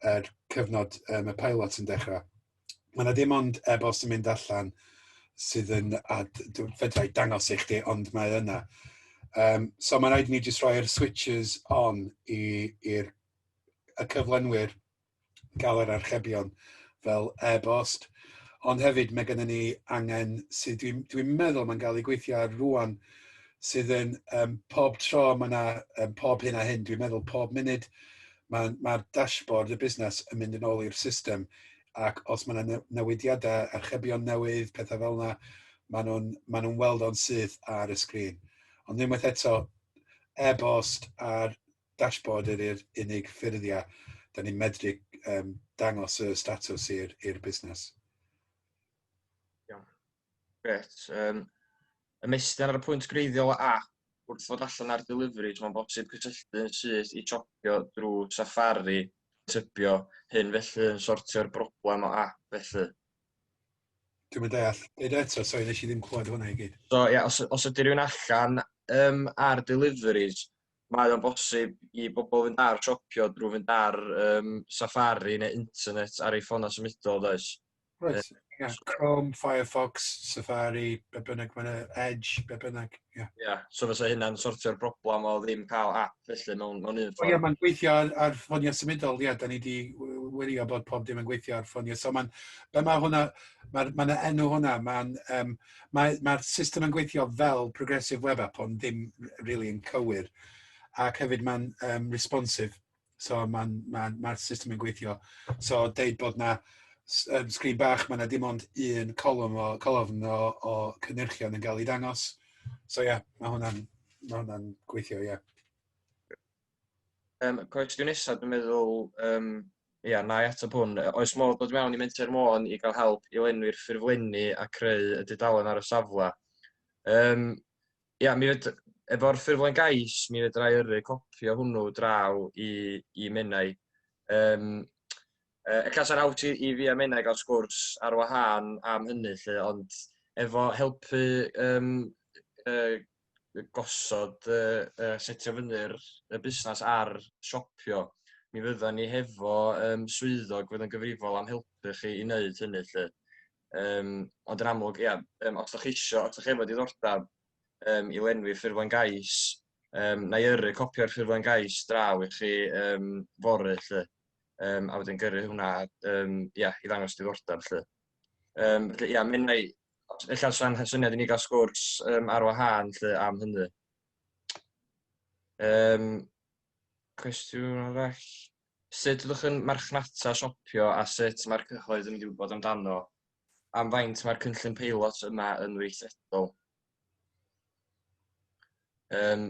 er cyfnod um, y pilot yn dechrau. Mae yna dim ond e-bost yn mynd allan sydd yn, a fedrai dangos i chdi, ond mae yna. Um, so mae'n rhaid ni jyst rhoi'r switches on i'r y cyflenwyr gael yr archebion fel e-bost, ond hefyd mae gennym ni angen sydd dwi'n dwi meddwl mae'n cael ei gweithio ar rwan sydd yn um, pob tro mae yna um, pob hyn a hyn, dwi'n meddwl pob munud mae'r ma, ma dashboard y busnes yn mynd yn ôl i'r system ac os mae yna newidiadau, archebion newydd, pethau fel yna, maen nhw'n ma nhw weld o'n syth ar y sgrin. Ond unwaith eto, e-bost a'r dashboard ydy'r unig ffurfia da ni'n medru um, dangos y statws i'r busnes. Iawn. Gret. Um, ymestyn ar y pwynt greiddiol a wrth fod allan ar deliveries, mae'n bosib cysylltu yn syth i topio drwy Safari, typio hyn felly yn sortio'r broblem o app felly. Dwi'n mynd deall. Deud eto, sori, nes i ddim clywed hwnna i gyd. So, ie, yeah, os, os ydy rhywun allan um, ar deliveries, mae o'n bosib i bobl fynd ar siopio drwy fynd ar yym Safari neu internet ar eu ffonau symudol does? Reit, ie, Chrome, Firefox, Safari, be' bynnag ma' 'na, Edge, be' bynnag, ie. Ie, so fysa hynna'n sortio'r broblam o ddim ca'l ap felly mewn mewn un ffordd? O ie ma'n gweithio ar ar ffonia symudol ie 'dan ni 'di w- wirio bod pob dim yn gweithio ar ffonia so ma'n be' ma' hwnna ma'r ma' 'na enw hwnna ma'n yym Mae mae'r system yn gweithio fel progressive web app ond ddim r- rili yn cywir ac hefyd mae'n yym responsive so mae'n mae'n mae'r system yn gweithio so deud bod 'na s- yym sgrin bach ma' 'na dim ond un colwm o colofn o o cynyrchion yn ga'l 'i dangos so ia ma' hwnna'n ma' hwnna'n gweithio ia. Um, cwestiwn nesaf, dwi'n meddwl, um, ia, na i ateb hwn. Oes modd dod mewn i Menter Môn i gael help i lenwi'r ffurflenni a creu y dudalen ar y safle? Um, ia, mi fyd, efo'r ffurflen gais, mi fydra i yrru copi o hwnnw draw i, i Menai. Um, e, y cas ar awt i, i fi a Menai gael sgwrs ar wahân am hynny, lle, ond efo helpu um, uh, gosod y y setio fyny'r y busnas ar siopio mi fyddan ni hefo yym swyddog fydd yn gyfrifol am helpu chi i wneud hynny lly. Yym ond yn amlwg ia yym os dach chi isio os dach chi efo diddordeb yym i lenwi ffurflen gais yym na i yrru copi o'r ffurflen gais draw i chi yym fory lly yym a wedyn gyrru hwnna yym ia i ddangos diddordeb lly. Yym felly ia mi wnâi ella sa'n ha- syniad i ni ga'l sgwrs yym ar wahân 'lly am hynny. Yym cwestiwn arall. Sut fyddwch yn marchnata siopio a sut mae'r cyhoedd yn mynd i wybod amdano? Am faint mae'r cynllun peilot yma yn weithredol? Yym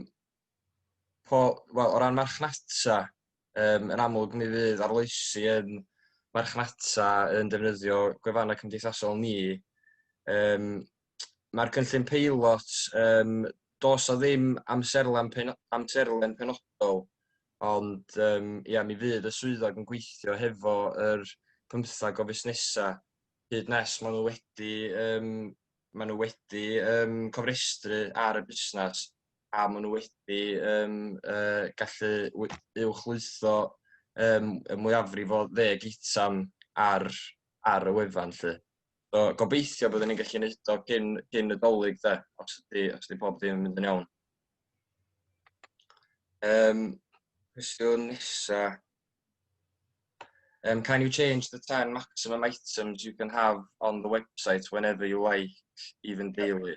po- wel o ran marchnata yym yn amlwg mi fydd arloesi yn marchnata yn defnyddio gwefannau cymdeithasol ni. Yym mae'r cynllun peilot yym dos o ddim amserlen pen- amserlen penodol ond yym ia mi fydd y swyddog yn gweithio hefo yr pymthag o fusnesa hyd nes maen nhw wedi yym maen nhw wedi um, cofrestru ar y busnes a maen nhw wedi um, uh, gallu uwchlwytho um, y mwyafrif o ddeg eitem ar, ar y wefan. Lly. So, gobeithio byddwn ni'n gallu gwneud o gyn, gyn y dolyg, de, os ydy, os ydy pob dim yn mynd yn iawn. Um, cwestiwn nesa, Um, can you change the 10 maximum items you can have on the website whenever you like, even daily?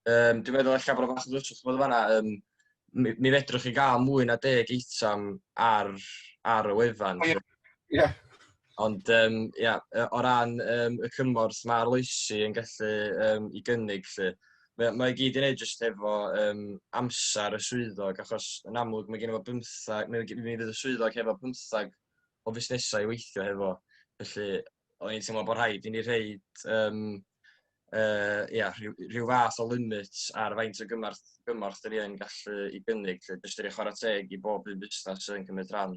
Um, dwi'n meddwl eich bod o fath o ddwyswch bod yma, um, mi, mi fedrwch chi gael mwy na deg eitem ar, ar y wefan. Ie. Yeah. Ond yym ia yy o ran yym y cymorth ma' arloesi yn gallu yym 'i gynnig 'lly mae o mae o gyd i neud jyst efo yym amser y swyddog achos yn amlwg mae geno fo bymthag mi g- mi fydd y swyddog hefo pymthag o fusnesau i weithio hefo felly o'n i'n teimlo bo' rhaid i ni rhoid yym yy ia rhyw rhyw fath o limit ar faint o gymorth gymorth 'dyn ni yn gallu 'i gynnig 'lly jyst i roi chwara teg i bob un busnas sy'n cymryd rhan.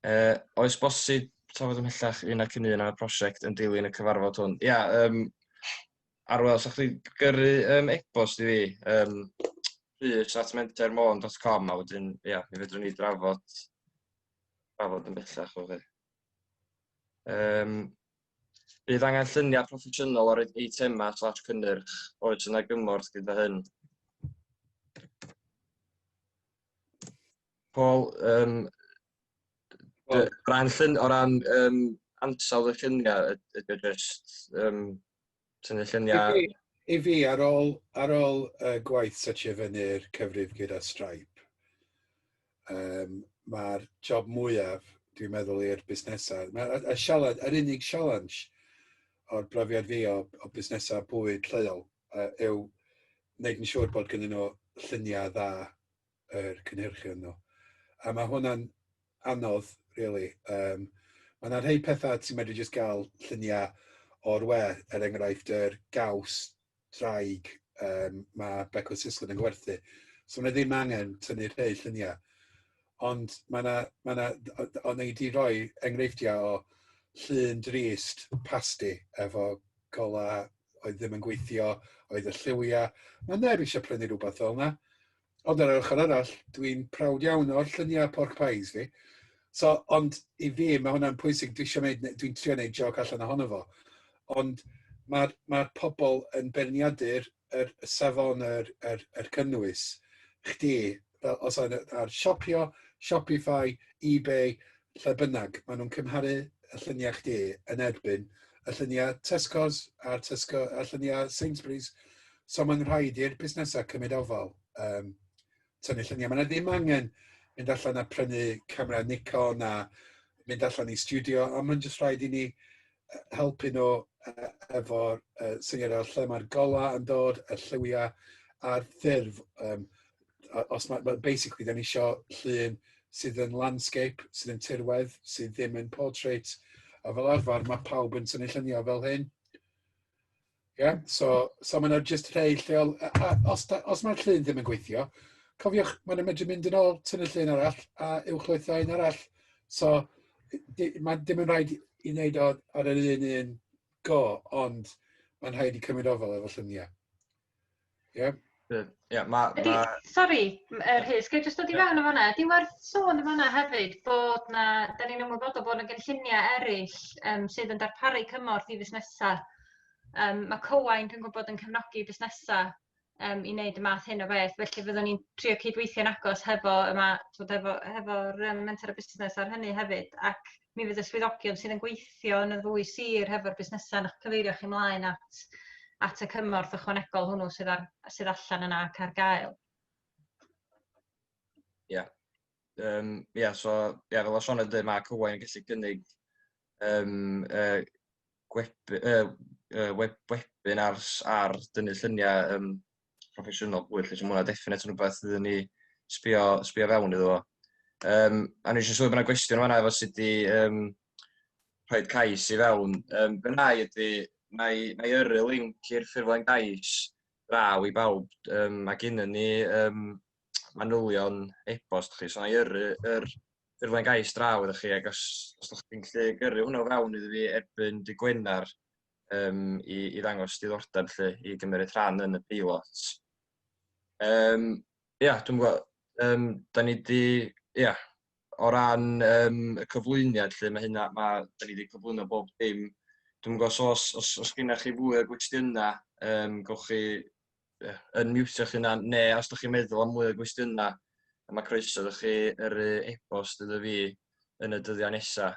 Uh, oes bosib trafod ymhellach un ac yn un ar y prosiect yn dilyn y cyfarfod hwn? Ia, um, Arwel, sa'ch chi'n gyrru um, e-bost i fi, um, rhys at mentermôn.com a wedyn, ia, mi fedrwn ni drafod, drafod yn bellach o fe. Um, bydd angen lluniau proffesiynol o'r eitemau slash cynnyrch oes yna gymorth gyda hyn. Paul, um, o ran, llun, o ran um, ansawdd y lluniau, ydy o just um, tynnu lluniau... I fi, i fi ar ôl, ar ôl uh, gwaith setio fyny'r cyfrif gyda Stripe, um, mae'r job mwyaf, dwi'n meddwl, i'r busnesau. Mae y sialens, yr unig sialens o'r brofiad fi o, o busnesau bwyd lleol uh, yw wneud yn siŵr bod gyda nhw lluniau dda yr cynhyrchion nhw. A mae hwnna'n anodd, really. Um, mae yna rhai pethau ti'n medru jyst gael lluniau o'r we, er enghraifft yr gaws draig um, mae Becco Sislin yn gwerthu. So mae ddim angen tynnu rhai lluniau. Ond mae yna, mae yna, ond ei di roi enghreifftiau o llun drist pasti efo gola oedd ddim yn gweithio, oedd y lliwiau. Mae neb eisiau prynu rhywbeth fel yna. Ond ar yr ochr arall, dwi'n prawd iawn o'r lluniau pork pies fi. So, ond i fi, mae hwnna'n pwysig, dwi eisiau gwneud, dwi'n trio gwneud joc allan ohono fo. Ond mae'r ma pobl yn beirniadu'r er, y safon yr, er, er cynnwys chdi, fel os yna, ar siopio, Shopify, eBay, lle bynnag, maen nhw'n cymharu y lluniau chdi yn erbyn y lluniau Tesco's a'r, Tesco, a lluniau Sainsbury's So mae'n rhaid i'r busnesau cymryd ofal, um, tynnu lluniau. Mae yna ddim angen mynd allan a prynu camera Nikon a mynd allan i studio, a mae'n jyst rhaid i ni helpu nhw uh, efo'r uh, syniad o'r lle mae'r golau yn dod, y lliwiau a'r ffurf. Um, os mae, well, basically, da ni eisiau llun sydd yn landscape, sydd yn tirwedd, sydd ddim yn portrait. A fel arfer, mae pawb yn tynnu lluniau fel hyn. Ie, so so mae 'na jyst rhai lleol a a os da- os mae'r llun ddim yn gweithio, cofiwch mae 'na medru mynd yn ôl, tynnu llun arall a uwchlwytho un arall. So di- ma' dim yn rhaid i wneud o ar yr un un go, ond mae'n rhaid i cymryd ofal efo llynia. Ie. Good. Ie ma' ma'... Ydi sori m- yy Rhys ga i jyst dod i fewn yn fan 'na ydi werth sôn yn fan 'na hefyd bod 'na 'dan ni'n ymwybodol bo' 'na gynllunie eryll yym sydd yn darparu cymorth i fusnesa yym ma' Cywain dwi'n gwbod yn cefnogi busnesa yym i neud y math hyn o beth felly fyddwn i'n trio cydweithio'n agos hefo y ma' t'wod efo hefo'r yym Menter a Busnes ar hynny hefyd ac mi fydd y swyddogion sydd yn gweithio yn y ddwy sir hefo'r busnesau yn eich cyfeirio chi mlaen at, at y cymorth ychwanegol hwnnw sydd, ar, sydd allan yna ac ar gael. Ie. Yeah. Um, yeah, so, yeah, fel o Sean yn dweud, mae Cywain yn gallu gynnig um, uh, gweb, uh, uh, web, webinars ar dynnu lluniau um, proffesiynol fwy felly, so ma' hwnna definate yn rwbeth fyddwn ni sbio sbio fewn iddo fo. Yym a nesh i sylwi bod 'na gwestiwn fanna efo sut i yym rhoid cais i fewn. Yym be' wna i ydi wna i wna i yrru linc i'r ffurflen gais draw i bawb yym ma' gennyn ni yym manylion e-bost chi so wna i yrru yr ffurflen gais draw iddo chi ac os os 'dach chi'n gallu gyrru hwnna o fewn iddo fi erbyn dy' Gwener um, i, i ddangos diddordeb lle i gymryd rhan yn y peilot. Um, ia, dwi'n gwybod, um, da ni wedi, ia, o ran um, y cyflwyniad lle mae hynna, mae, da ni wedi cyflwyno bob dim. Dwi'n gwybod os, os, os, os gennych chi fwy o gwestiynau, um, gawch chi yeah, yn miwtio chi yna, ne os ydych chi'n meddwl am mwy o gwestiynau, mae croeso ydych chi yr e-bost iddo fi yn y dyddiau nesaf.